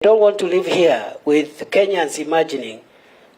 I don't want to live here with Kenyans imagining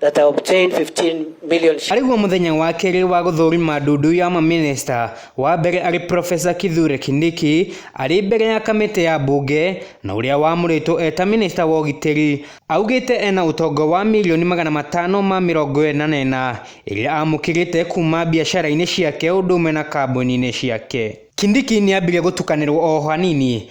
that I obtained 15 million shillings. Arĩguo mũthenya wa kerĩ wa gũthũrima ndundu ya mamĩnĩsta, wa mbere arĩ Profesa Kithure Kindiki arĩ mbere ya kamĩtĩ ya mbunge na ũrĩa wamũrĩtwo eta mĩnĩsta wa ũgitĩri augĩte ena ũtongo wa mirioni magana matano ma mĩrongo ĩna na ĩna ĩrĩa amũkĩrĩte kuma biacara-inĩ ciake ũndũ ũmwe na kambuni-inĩ ciake. Kindiki nĩambire gũtukanĩrwo o hanini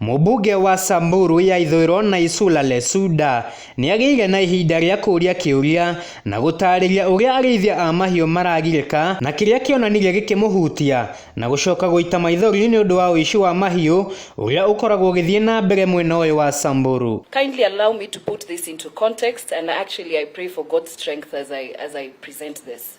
Mũmbunge wa Samburu ya ithũĩro Naisula Lesuda nĩagĩire na ihinda rĩa kũũria kĩũria na gũtarĩria ũrĩa arĩithia a mahiũ maragirĩka na kĩrĩa kĩonanirie gĩkĩmũhutia na gũcoka gũita maithori nĩũndũ wa ũici wa mahiũ ũrĩa ũkoragwo ũgĩthiĩ na mbere mwena ũyũ wa Samburu. Kindly allow me to put this into context and actually I pray for God's strength as I, as I present this.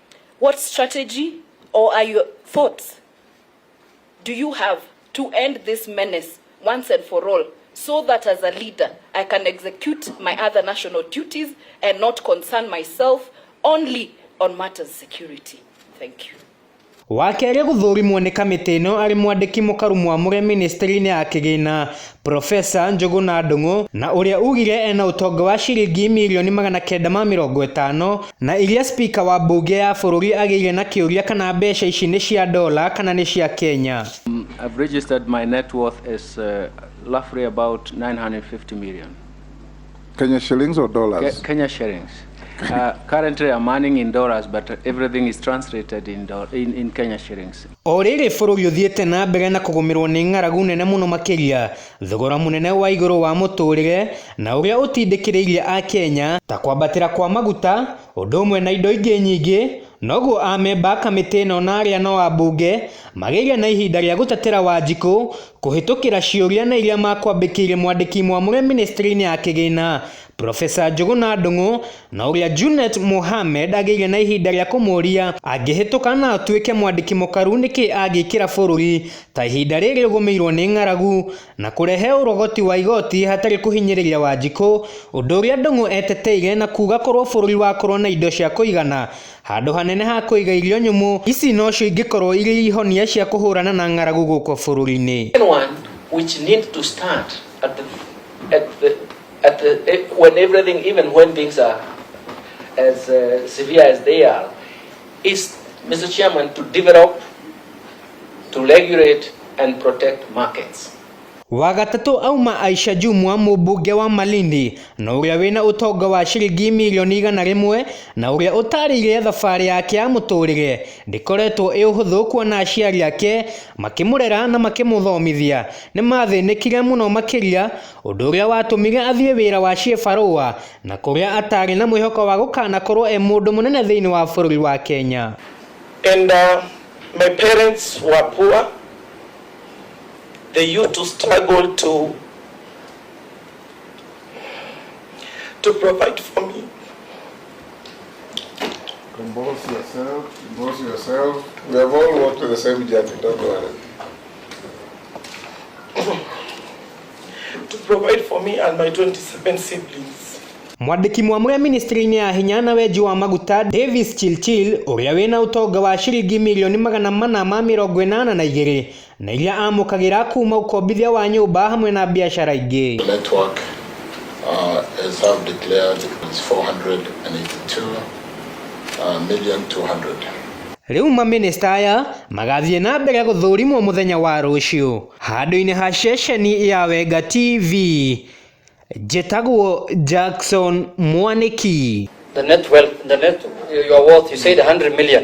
What strategy or are your thoughts do you have to end this menace once and for all so that as a leader I can execute my other national duties and not concern myself only on matters security? Thank you. Wakerĩ gũthũrimwo nĩ kamĩtĩ ĩno arĩ mwandĩki mũkaru mwamũre ministry-inĩ ya kĩgĩna Profesa Njũgũna Ndũng'ũ na ũrĩa ugire ena ũtonga wa ciringi mirioni magana kenda ma mĩrongo ĩtano na iria spika wa mbunge ya bũrũri agĩire na kĩũria kana mbeca ici nĩ cia dola kana nĩ cia Kenya. I've registered my net worth as uh, roughly about 950 million. Kenya shillings or dollars? Ke Kenya shillings. Uh, currently I'm earning in dollars, but everything is translated in, do in, in Kenya shillings. O rĩrĩ bũrũri ũthiĩte na mbere na kũgũmĩrwo nĩ ng'aragu nene mũno makĩria, thogora mũnene wa igũrũ wa mũtũrĩre na ũrĩa ũtindĩkĩrĩirie Akenya, ta kwambatĩra kwa maguta, ũndũ ũmwe na indo ingĩ nyingĩ, noguo amemba a kamĩtĩ ĩno na arĩa no ambunge magĩire na ihinda rĩa gũtatĩra Wanjikũ kũhĩtũkĩra ciũria na iria makwambĩkĩire mwandĩki mwamũre ministry-inĩ ya kĩgĩna Professor Njũgũna Ndũng'ũ na ũrĩa Junet Mohamed agĩire na ihinda rĩa kũmũũria angĩhĩtũka na atuĩke mwandĩki mũkaru nĩkĩ angĩkĩra bũrũri ta ihinda rĩrĩ ũgũmĩirwo nĩ ng'aragu na kũrehe ũrogoti wa igoti hatarĩ kũhinyĩrĩria Wanjikũ, ũndũ ũrĩa Ndung'u eteteire na kuuga korwo bũrũri wakorwo na indo cia kũigana handũ hanene ha kũiga irio nyũmũ, ici nocio ingĩkorwo irĩ ihonia cia kũhũrana na ng'aragu gũkũ bũrũri-inĩ. At the, eh, when everything, even when things are as uh, severe as they are, is, Mr. Chairman, to develop, to regulate, and protect markets. wagatatũ auma Aisha Jumwa mũmbunge wa Malindi na ũrĩa wĩna ũtonga wa ciringi mirioni igana rĩmwe na ũrĩa ũtarĩire thabarĩ yake ya mũtũrĩre ndĩkoretwo ĩ ũhũthũ kuona aciari ake makĩmũrera na makĩmũthomithia nĩ mathĩnĩkire mũno makĩria Ũndũ ũrĩa watũmire athiĩ wĩra wa ciĩbarũa na kũrĩa ataarĩ na mwĩhoko wa gũkanakorwo e mũndũ mũnene thĩinĩ wa bũrũri wa Kenya. And uh, my parents were poor. They used to struggle to, to provide for me. Compose yourself, compose yourself. We have all walked the same journey, don't worry. to provide for me and my 27 siblings. Mwandĩki mwamũre ministry-inĩ ya hinya na wenji wa maguta Davis Chilchil ũrĩa wĩna ũtonga wa ciringi mirioni magana mana ma mĩrongo ĩnana na igĩrĩ na iria amũkagĩra kuma ũkombithia wa nyũmba hamwe na biacara ingĩ. The network uh, as I've declared is 482 uh, million 200. Rĩu maminista aya magathiĩ na mbere gũthũrimwo mũthenya wa rũciũ. Handũ-inĩ ha ceceni ya Wenga TV, njĩtagwo Jackson Mwanĩki. The net wealth, the net, your worth, you said 100 million.